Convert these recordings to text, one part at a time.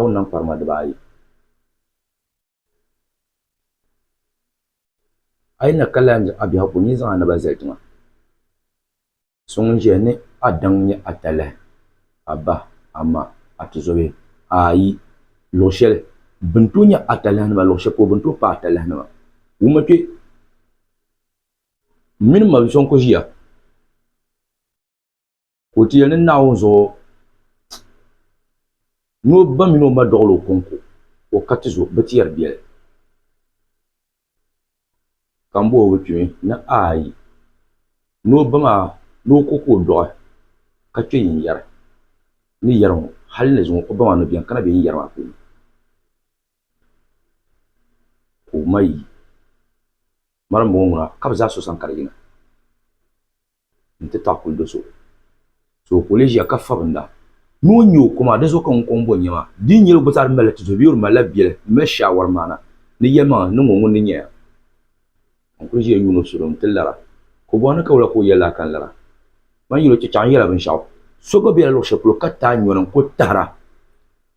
ka o niŋ kparima dibaayi. A yi na ka lala n-nyɛ a biɛhigu ka o nyin zaŋ a naba zali tiŋa, so ŋun ʒiya ni a daŋ nyɛ a talahi, a ba, a ma, a tizɔbihi, ayi, luɣ shɛli bɛ ni tooi nyɛ a talahinima luɣ shɛli polo bɛ ni tooi paai a talahinima wuma kpe. M mini m ma binsɔŋ kuli ʒiya. O ti yɛli ni Naawuni zuɣu ni o ba mini o ma dɔɣil o kɔŋko o ka ti zo bɛ ti yɛri biɛli. Ka m bɔhi o bɛ kpimi ni aai ni o ba maa ni o ko ka o dɔɣi ka kpe yin yɛri ni yɛri ŋɔ hali ni zuŋɔ o ba maa ni bɛn kana bɛ yin yɛri maa puuni ka o ma yi mali m-bɔŋɔ ŋuna ka bɛ zaa so sani ka di yina. nti taɣi kuli do so. So o kuli ʒiya ka fabinda ni o nya o koma di zuɣu ka ŋun kɔŋ bo nyɛma di ni nyɛli o gba zaa di malila tizo bee o di malila biɛli ni mali shaawari maana ni yɛlimaŋli ni niŋ o ŋun di nyaya ka n kuli ʒiya yuuni o salo nti lara ka o bɔŋ ni ka wula ka o yɛlila ka n lara man yɛl o chɛ chaŋ yɛla binshɛɣu so gba bela luɣ shɛli polo ka taai nyɔni n kuli tahira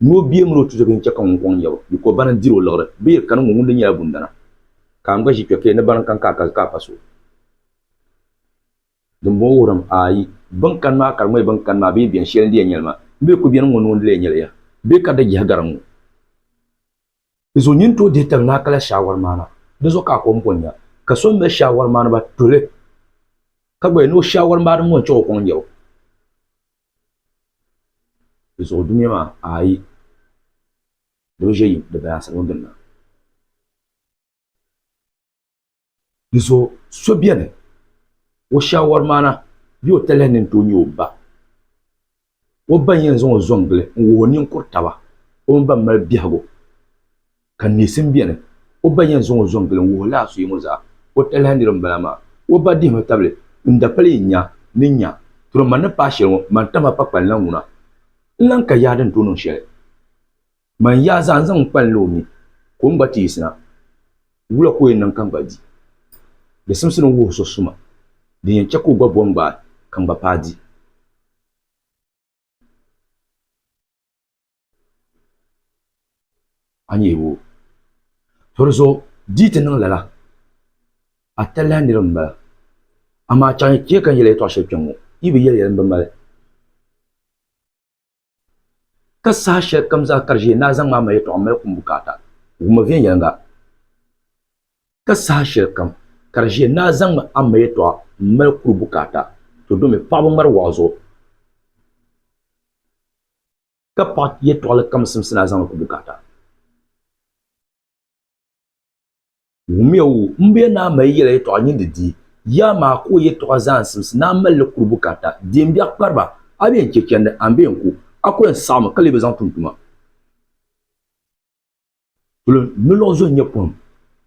ni o bia min o tizo bee n chɛ ka ŋun kɔŋ nya ba biko bana n-diri o liɣiri bee ka niŋ o ŋun di nyɛla bundana ka n gba ʒi kpe ka yɛl ni bana n-kani ka a ka a pa so. Dimbɔŋɔ wuhirimi ayi bɛn kani maa ka di ŋmani bɛn kani maa bee bɛn shɛli n-di ya nyɛli maa. N bɛ ku beni ŋ-ŋɔ noo n-di ya nyɛli ya bee ka di jihi gari ŋ-ŋɔ? Di zuɣu nyin tooi dihi tali ni a kala shaawari maana. Di zuɣu ka a kom bɔnya ka so m-mali shaawari maaniba tuli ka gba ya ni o shaawari maaniba ŋɔ n-chaŋ o kɔŋ n-nyari o. Di zuɣu dunia maa ayi di bi ʒe yim di bayansiri ŋɔ gbinni. Di zuɣu so beni o shaawari maana bee o talihi ni n-tooi nya o ba. O ba n-yɛn zaŋ o zo n-gili n-wuhi o ninkur taba o mini ban mali biɛhigu ka neesim beni. O ba n-yɛn zaŋ o zo n-gili n-wuhi lala so yiŋɔ zaa o talihi nir m-bala amaa o ba dihimi tabili n dapali yi nya ni nya tro man ni paai shɛli ŋɔ man tam a pakpalina ŋuna n lan ka yaha din tooi niŋ shɛli. Man yaa zaa n-zaŋ n kpalinli o ni, ka o mi gba ti yiɣisina. Wula ka o yɛn niŋ ka n gba di? Di simsi ni n wuhi so suma, din yɛn chɛ ka o gba bom gbaai ka n gba paai di. A ni yɛli o, To di zuɣu di yi ti niŋ lala, a talahi nir m m-bala. Amaa chaŋ yi chɛ ka n yɛli a yɛtɔɣ shɛli kpɛŋŋɔ, yi bi yɛli yɛli m bi mali. Ka saha shɛli kam zaa ka di ʒiɛ, naa zaŋm a yɛtɔɣa mali kum bukaata, wum o viɛnyɛliŋga. Ka saha shɛli kam ka di ʒiɛ, naa zaŋm a yɛtɔɣa mali kuri bukaata, to domi paɣaba ŋmari waɣa zuɣu, ka paɣa yɛtɔɣali kam simsi naa zaŋ li ku bukaata. Wumiya o, m be Naa mali yɛla yɛtɔɣa nyindi di, yaa maa ka o yɛtɔɣa zaa simsi Naa mali li kuri bukaata di m biɛɣu kpariba, a bee n chɛ chɛndi a ni bee n ku, a ku yɛn saɣimi ka lee bi zaŋ tum tuma. Polo ni luɣ zo n-nyɛ pohim,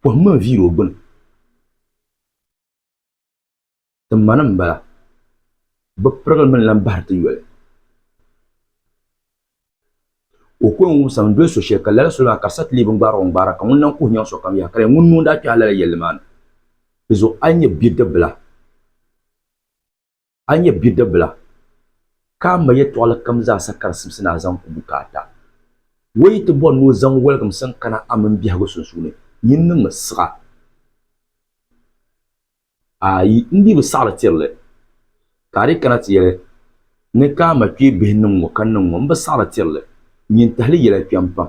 pohim mini viiri o gbini. Ti ma ni m-bala. Bɛ pirigili mi ni lan bahiri ti yoli. O ko n-wumsim n-doli so shɛli ka lala soli maa ka di sa ti lee bi ni gbaari o n-gbaara ka ŋun lan kuhi nyaŋ sokam yaha ka di yɛn ŋuni ni o ni daa kpɛhi lala yɛlli maa ni. Di zuɣu a yi nyɛ bidibila a yi nyɛ bidibila ka a ma yɛtɔɣili kam zaa sa ka di simsi ni a zaŋ ku bukaata. O yi ti bɔri ni o zaŋ wɔligim siŋ kana a mini biɛhigu sunsuuni, nyin niŋmi siɣa. A yi n dii bi saɣiri tiri li, ka a dii kana ti yɛli, Ni ka a ma kpee bihi niŋ ŋɔ ka niŋ ŋɔ, m bi saɣiri tiri li, nyin tahili yɛla kpɛm pam.